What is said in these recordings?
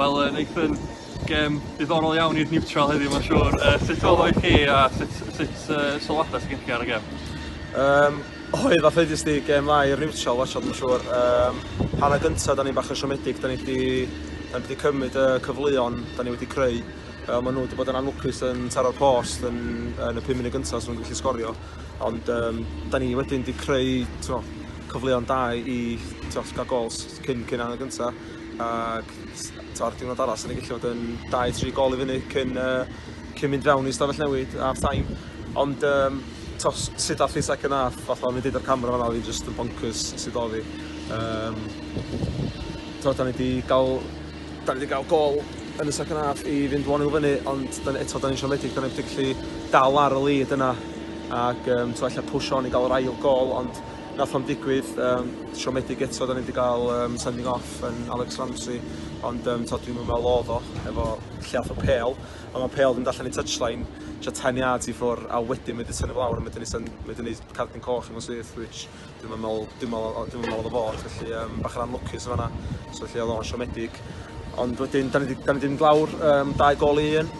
Wel yy Nathan, gem diddorol iawn i'r niwtral heddiw mae'n siŵr. Uh, sut oedd chi a sut, sut uh, sylwadau sy'n chi ar y gem? Um, oedd a ffeidus di gem dda i'r niwtral wachod mae'n siŵr. Um, hanna gyntaf, da ni bach yn siomedig, da ni wedi, da ni wedi cymryd y cyfleon, da ni wedi creu. Uh, maen nhw wedi bod yn anlwcus yn taro'r post yn, yn y 5 munud gyntaf sy'n nhw'n gallu sgorio. Ond um, da ni wedyn wedi creu tno, cyfleon da i tno, gael gols. cyn cyn angen gynta ac ta'r diwrnod arall sy'n ei gallu fod yn 2-3 gol i fyny cyn, uh, cyn mynd fewn i stafell newid ar taim. Ond um, tos, sut all i second half, fatha o'n i'n dweud ar camera fanna, oedd just yn bonkers sydd oedd i. Um, tos, da ni wedi gael, da ni wedi gael gol yn y second half i fynd 1-0 fyny, ond da ni, eto da ni'n siomedig, da ni wedi gallu dal ar y lead yna ac um, to, allai push on i gael yr ail gol, ond Nath o'n digwydd, um, siomedig eto, da ni wedi cael um, sending off yn Alex Ramsey, ond um, to, dwi'n meddwl oedd o, efo lle o pel, a mae pel yn dallan i touchline, tra 10 yards i ffwr, a wedyn mae wedi tynnu lawr, a mae wedi gwneud cardyn coch i mewn syth, which dwi'n meddwl, dwi'n meddwl, dwi'n meddwl oedd o fod, felly um, bach yn anlwcus o fanna, so felly oedd o'n siomedig. Ond wedyn, da ni wedi mynd lawr um, dau gol i un,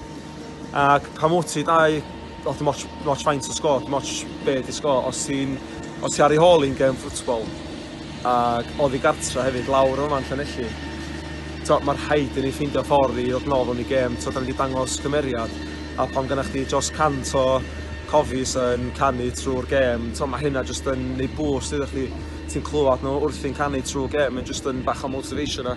ac pan wyt ti dau Os dim ots, dim ots faint o sgôr, dim ots be di sgôr, os ti'n os ti ar ei hôl i'n gem ffwtbol, ac oddi gartra hefyd, lawr yma'n Llanelli, mae'r rhaid i ni ffeindio ffordd i ddod nôl yn ei gem, to, da ni wedi dangos cymeriad, a pan gynna'ch chi dros cant o cofis yn canu trwy'r gem, to, mae hynna jyst yn ei bwys iddo chdi, ti'n clywed nhw wrthi'n canu trwy'r gem, mae'n jyst yn bach o motivation a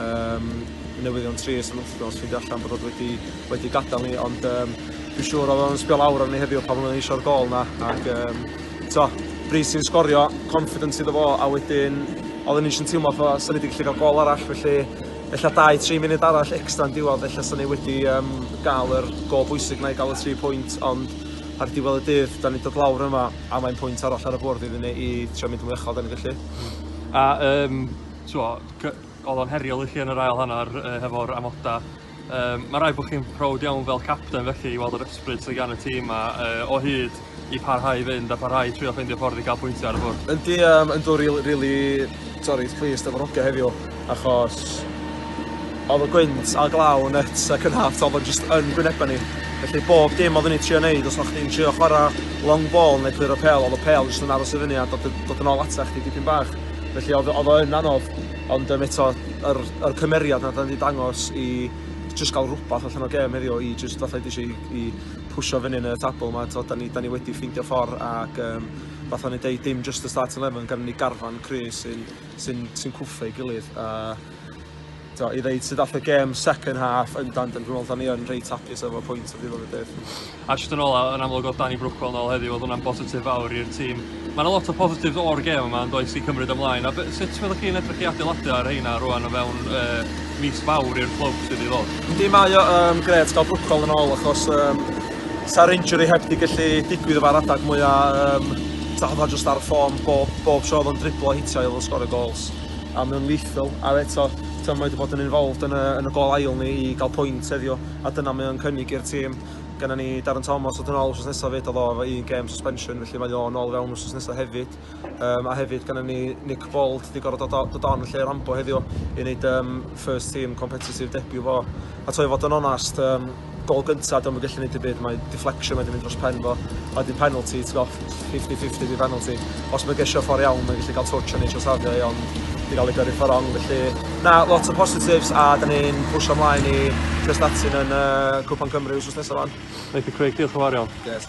um, newyddion trist yn wythnos ffeindio allan bod oedd wedi, wedi gadael ni ond um, dwi'n siŵr oedd o'n sbio lawr ar ni heddiw pan oedden eisiau'r gol na ac um, to, Brys sy'n sgorio confidence iddo fo a wedyn oedd ni eisiau teimlo fo sy'n wedi gallu cael gol arall felly ella 2-3 munud arall extra yn diwedd ella sy'n ni wedi um, gael yr gol bwysig na i gael y 3 pwynt ond ar diwedd y dydd da ni dod lawr yma a mae'n pwynt arall ar y bwrdd iddyn ni i trio mynd yn uchel da ni gallu a um, so, Oedd o'n heriol i chi yn yr ail hanner uh, hefo'r amoda. Um, mae rai bod chi'n proud iawn fel capten felly i weld yr ysbryd sydd gan y tîm a uh, o hyd i parhau i fynd a parhau i trio ffeindio ffordd i gael pwyntiau ar y bwrdd. Yndi, um, yn dod rili, really, really, sorry, pleased efo'r ogau heddiw achos oedd y gwynt a glaw net ac yn half oedd o'n just yn gwynebau ni. Felly bob dim oedd yn ei trio wneud, os o'ch chi'n trio chwarae long ball neu clir o pel, oedd y pel jyst yn aros i fyny a dod, dod yn ôl ata chdi dipyn bach. Felly oedd, oedd o yn anodd, ond um, eto, yr, yr cymeriad na da ni wedi dangos i just gael rhywbeth allan o gem heddiw i just fatha i i, i pwysio fyny yn y tabl yma, to, da, ni, da ni wedi ffeindio ffordd ac um, fatha ni dweud dim just y start 11 gan ni garfan Chris sy'n sy sy cwffio ei gilydd a i ddeud sydd ath y gêm second half yn dan dyn rhywbeth, ni yn reit hapus efo pwynt o ddiwedd y dydd. A jyst yn ôl, yn amlwg oedd Danny Brwcol yn ôl heddiw, oedd hwnna'n bositif fawr i'r tîm. Mae yna lot o positif o'r gêm yma yn does i cymryd ymlaen. A sut fyddwch chi'n edrych i adeiladu ar heina rwan o fewn uh, mis fawr i'r clwb sydd i ddod? Yndi, mae o um, gret gael Brwcol yn ôl achos um, sa'r injury heb di gallu digwydd efo'r adag mwyaf um, ta oedd o jyst ar y ffôn bob, bob tro oedd o'n driblo hitio oedd o'n sgorio gols. a mae o'n lethal. A eto, mae wedi bod yn involved yn y, yn y gol ail ni i gael pwynt heddiw, a dyna mae o'n cynnig i'r tîm. Gynna ni Darren Thomas oedd yn ôl wrth nesaf fyd, oedd o efo un gêm suspension, felly mae o'n ôl fewn wrth nesaf hefyd. Um, a hefyd gynna ni Nick Bold, wedi gorfod dod, dod on lle Rambo heddiw i wneud um, first team competitive debut fo. A to i fod yn onast, um, gol gynta dom yn gallu neud dim byd mae deflection wedi mynd dros pen fo a wedyn penalty ti'n gwbod 50-50 di penalty os mae gesio ffordd iawn mae'n gallu cael touch o'n eisiau safio i ond di gael ei gyrru ffordd wrong felly na lot o positives a da ni'n pwysio ymlaen i Cresnatin yn uh, Cwpan Cymru wrth nesaf fan. Nathan Craig, diolch yn fawr iawn. Yes,